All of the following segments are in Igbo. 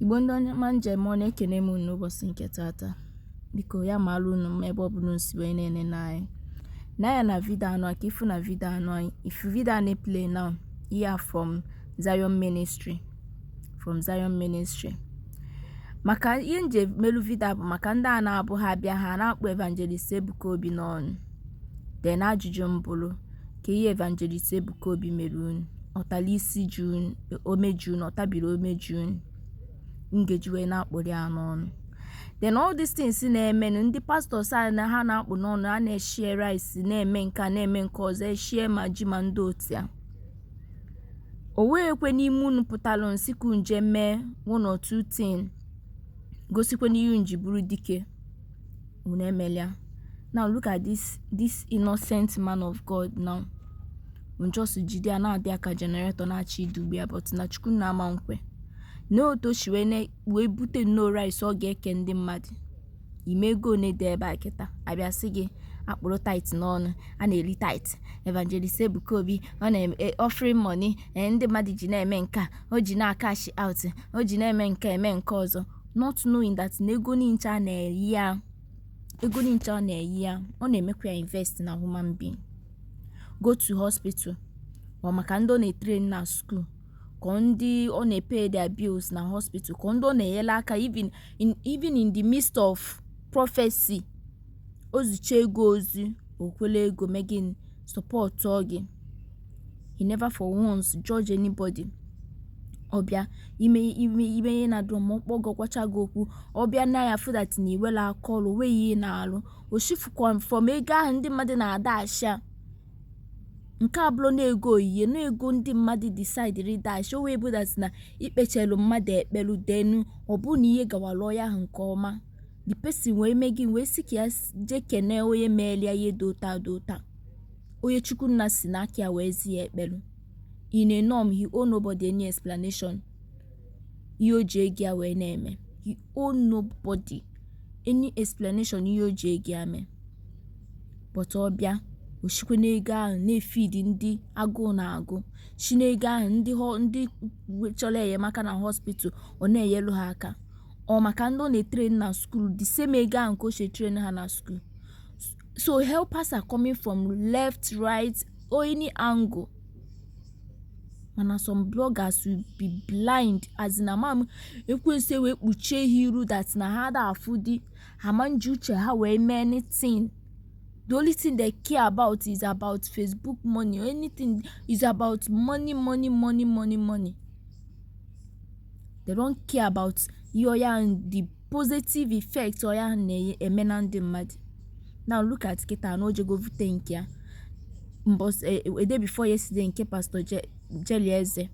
igbo ndị ọma m ji eme ọnụ ekene m unu n'ụbọchị nke tata biko ya mara unu mma ebe ọ bụla unu si wee na-enene anyị anya na vidio anụwa ka ị fụ na vidio anụwa ị fụ vidio a na-eplay now ya from Zion Ministry from Zion Ministry maka ihe m ji melu vidio bụ maka ndị a na-abụ ha bịa ha na-akpụ evangelist Ebuka Obi n'ọnụ Then ajụjụ m bụrụ, kee ihe Evangelist Ebuka Obi mere unu? Ọ tara isi ji unu, ome ji unu, ọ tabiri ome ji unu. Unu ga-eji wee na-akpụrụ ya n'ọnụ. Then all these things na-emenụ ndị pastọs a na ha na-akpụ n'ọnụ a na-eshare rice na-eme nke a na-eme nke ọzọ eshare ma ji ma ndị otu ya. O nwekwe n'ime unu pụtara unu sị ka unu jee mee one or two thing gosikwanụ ihe unu ji bụrụ dike. unu emelia now look at this this innocent man of god now unu just jide ya na-adọ ya ka generator na-achọ idugbu ya but na chukwu nna ama nkwe nee otu o si wee na- wee bute nnọọ rice ọ ga-eke ndị mmadụ ị ma ego one dị ebe a kịta a bịa sị gị akpụrụ tithe n'ọnụ a na-eri tithe evangelist ebuka obi ọ na-eme offering money eh, ndị mmadụ ji na-eme nke a o ji na-acash out o ji na-eme nke eme nke ọzọ not knowing that na ego nincha a na-eyi ya ego nincha a na-eyi ya ọ na-emekwa ya invest na human being go to hospital ọ maka ndị ọ na-etrain na school ka ndị ọ na-epay their bills na hospital ka ndị ọ na-enyere aka even in, even in the midst of prophecy O zicha gị ozi o kwere ego mee gịnị sọpọtụọ gị he never for once judge anybody ọ bịa ime ime ime ihe na drum ọ kpọ gị ọ gwacha gị okwu ọ bịa nee ya fụ that na i nwere aka ọrụ nwee ihe na-arụ o shifukwa from ego ahụ ndị mmadụ na-adash ya nke a bụrụ na ego oyiye na ego ndị mmadụ disaidiri dash o wee bụ that na i kpechelu mmadụ ekpele then ọ bụ na ihe gawara onye ahụ nke ọma the person wee mee gịnị wee sị ka ya s- jee kene onye meelia ihe dị otu a dị otu a onye chukwu nna si n'aka ya wee zi ya ekpere in a norm he owe nobody any explanation ihe o ji ego ya wee na-eme he owe nobody any explanation ihe o ji ego ya mee but ọ bịa o sikwe n'ego ahụ na-efidi ndị agụụ na-agụ si n'ego ahụ ndị ho- ndị chọrọ enyemaka na hospital ọ na-enyelu ha aka ọ maka ndị ọ na-etrain na school the same ego ahụ ka o si etrain ha na school so helpers are coming from left right or any angle mana some bloggers will be blind as in ama m ekwensu wee kpuchie ha iru that na ha da afụ di ha ma nji uche ha wee mee anything the only thing they care about is about facebook money or anything is about money money money money money they don't care about ihe ọya the positive effect ọya na-eme na ndị mmadụ now look at kịta na o jego vute nke ya mbọsị eh, a day before yesterday nke pastor jerry eze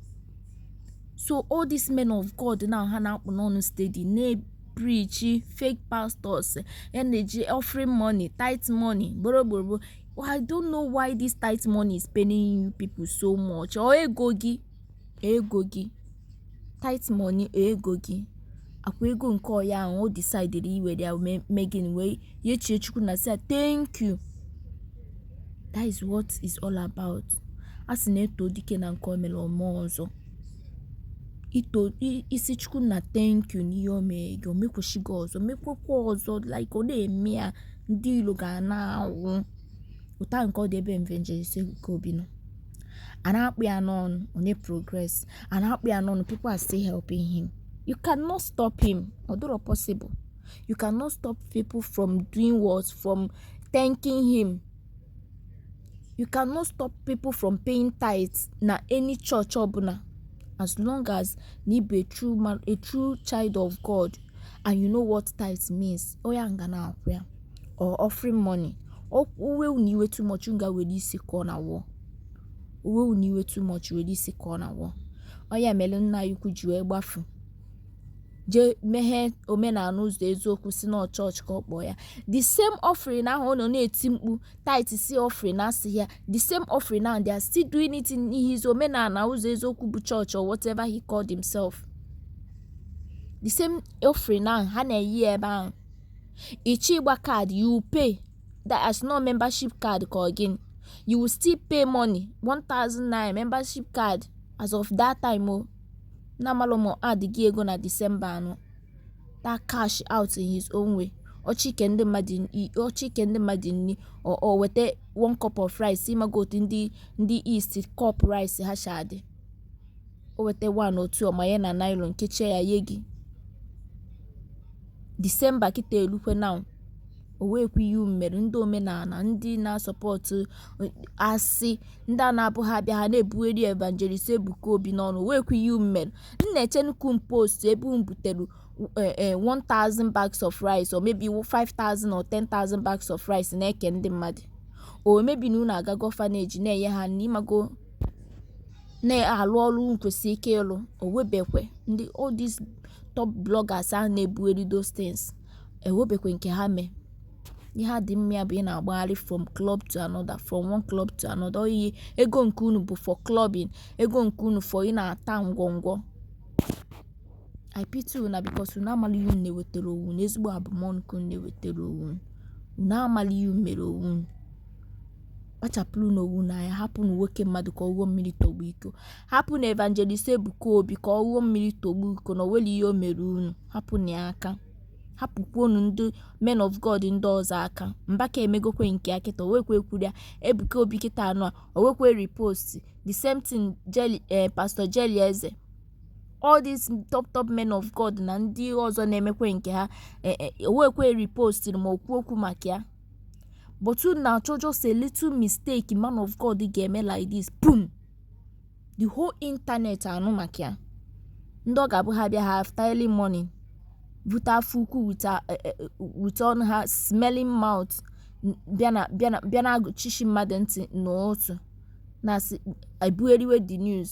so all these men of god now ha na-akpụ n'ọnụ steady na-epreachi fake pastors ya na-eji offering money tithe money gboro I don't know why this tithe money is paining you people so much ọ ego gị ego gị tithe money ego gị ọ kwa ego nke ọya ahụ o decidiri iwere ya mee mee gịnị wee yechie chukwu na sị ya thank you that is what it's all about a sị na e too dike na nke o mere o mee ọzọ i too i- ị sị chukwu na thank you n'ihe o mere gị o mekwuchi gị ọzọ mekwekwa ọzọ like ọ na-eme ya ndị ilo ga na-anwụ otu a ka ọ dị ebe evangelist ebuka obi nọ a na-akpụ ya n'ọnụ ọ na-eprogress a na-akpụ ya n'ọnụ people are still helping him you cannot stop him ọ dịrọ possible you cannot stop people from doing what from thanking him you cannot stop people from paying tithes na any church ọbụla as long as na ị bụ a true child of God and you know what tithes means oya nga na-akwụ ya or offering money o wee unu iwe too much unu ga were isi kụọ na wall o wee unu iwe too much were isi kụọ na wall ọ ya mere nna ya ukwu ji wee gbafu jee meghee omenala ụzọ eziokwu sị na chọọchị ka ọ kpọọ ya the same offering ahụ ọ nọ na-eti mkpu tithe si offering asị ya the same offering ahụ they are still doing it in his omenala ụzọ eziokwu bụ chọọchị or whatever he called himself the same offering ahụ ha na-eyi ebe ahụ Ị chọọ ịgba card you will pay, that as in ọ membership card ka ọ gịnị? You will still pay money, 1000 naira membership card as of that time o. N'amalụ ma add gị ego na December anụ. That cash out in his own way. ọ chọọ ike ndị mmadụ nni o weta one cup of rice ị mago otu ndị east cup rice ha si adị o weta one or two ọ manye na nylon kechie ya ye gị disemba kịta elukwe now o nwekwa ihe mere ndị omenala ndị na-asupport asị ndị a na-abụ ha bịa ha na-ebugheri evangelist ebuka obi n'ọnụ o nwekwa ihe mere m na-eche unu ka unu post ebe unu butere eh, eh, 1000 bags of rice or maybe 5000 or 10000 bags of rice na-eke ndị mmadụ or maybe na unu agago orphanage na-enye ha nri ịmago na-alụ ọrụ unu kwesịrị ike ịlụ o nwebekwe ndị all these top bloggers a na-ebugheri those things enwebekwe nke ha mee ihe ha dị mma ya bụ ị na-agbagharị from club to another from one club to another oyi ego nke unu bụ for clubbing ego nke unu for ị na-ata ngwọngwọ I pity una because unu amala ihe unu na-ewetara onwe unu ezigbo abụmọnụ ka unu na-ewetara onwe unu unu amala ihe unu mere onwe unu kpachapụrụnụ onwe unu anya hapụnụ nwoke mmadụ ka ọ ṅụọ mmiri tọgbọ iko hapụnụ evangelist ebuka obi ka ọ ṅụọ mmiri tọgbọ iko na o nwere ihe o mere unu hapụnụ ya aka hapụkwuonụ ndị men of god ndị ọzọ aka mbaka emegokwe nke ya kịta o nwekwe kwuru ya ebuka obi kịta anụ a o nwekwe repost the same thing jerry eh, pastor jerry eze all these top top men of god na ndị ọzọ na-emekwe nke ha eh, eh, o nwekwe repostiri ma o kwuo okwu maka ya but unu na-achọ just a little mistake man of god ga-eme like this boom the whole internet anụ maka ya ndị ọ ga-abụ ha bịa ha afụta early morning bute afọ ukwu with eh, eh, eh, ọnụ ha smelling mouth bịa na-agụchishi mmadụ ntị n'otu na-asị ebugheriwe the news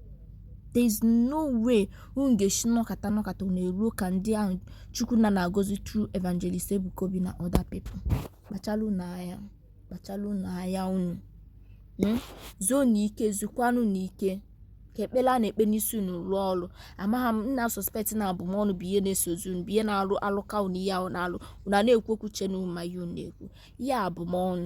there is no way unu ga-esi nọkata nọkata unu eruo ka ndị ahụ chukwu na na-agọzi through evangelist ebuka obi na other people kpachala unu anya kpachala unu anya unu Mm? zuonụ ike zukwanụnụ ike ka ekpere a na-ekpe n'isi unu rụọ ọrụ amaghị m m na-asuspect na abụmọnụ bụ ihe na-esozi unu bụ ihe na-arụ alụka unu ihe ahụ na-alụ unu a na-ekwu okwu che na unu ma ihe unu na-ekwu ihe abụmọnụ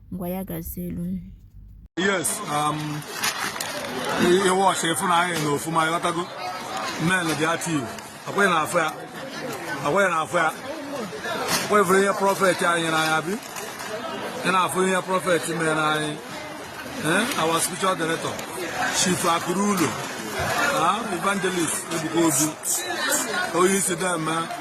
ngwa ya gazie elu yes um, ị watch ị fụ na anyị nọ ọfụma ịghọtago men dị active ọkwa ị na-afụ ya ọkwa ị na-afụ ya kwa ị fụrụ ihe prọfet anyị nyere anyị abi ị na-afụ ihe prọfet mere anyị eh, our spiritual director chief akụ ruo ụlọ ah, evangelist ebuka obi onye isi deme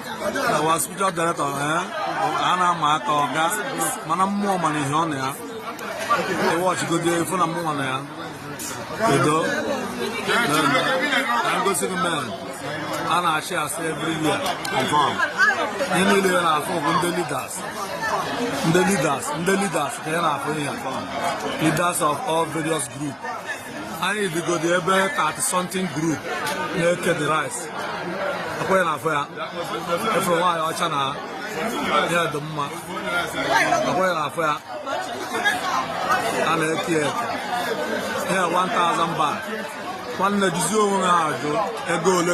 our spiritual director eh? a na-ama aka ọga mana mmụọ mana ihe ọ na ya ị watchigodi ị fụ na mmụọ na ya edo na m gosi gị men a na-achị asị every year confirm ihe niile a ị na-afụ bụ ndị leaders ndị leaders ndị leaders ka ị na-afụ ihe leaders of all various groups anyị dịgodi ebe 30 something group na-eke the rice akwụghị na afọ ya efere nwaanyị ọcha na ya dị mma akwụghị na afọ ya a na-eke ya eke ya 1000 bag nwanne jizie onwe ha ajụ ego ole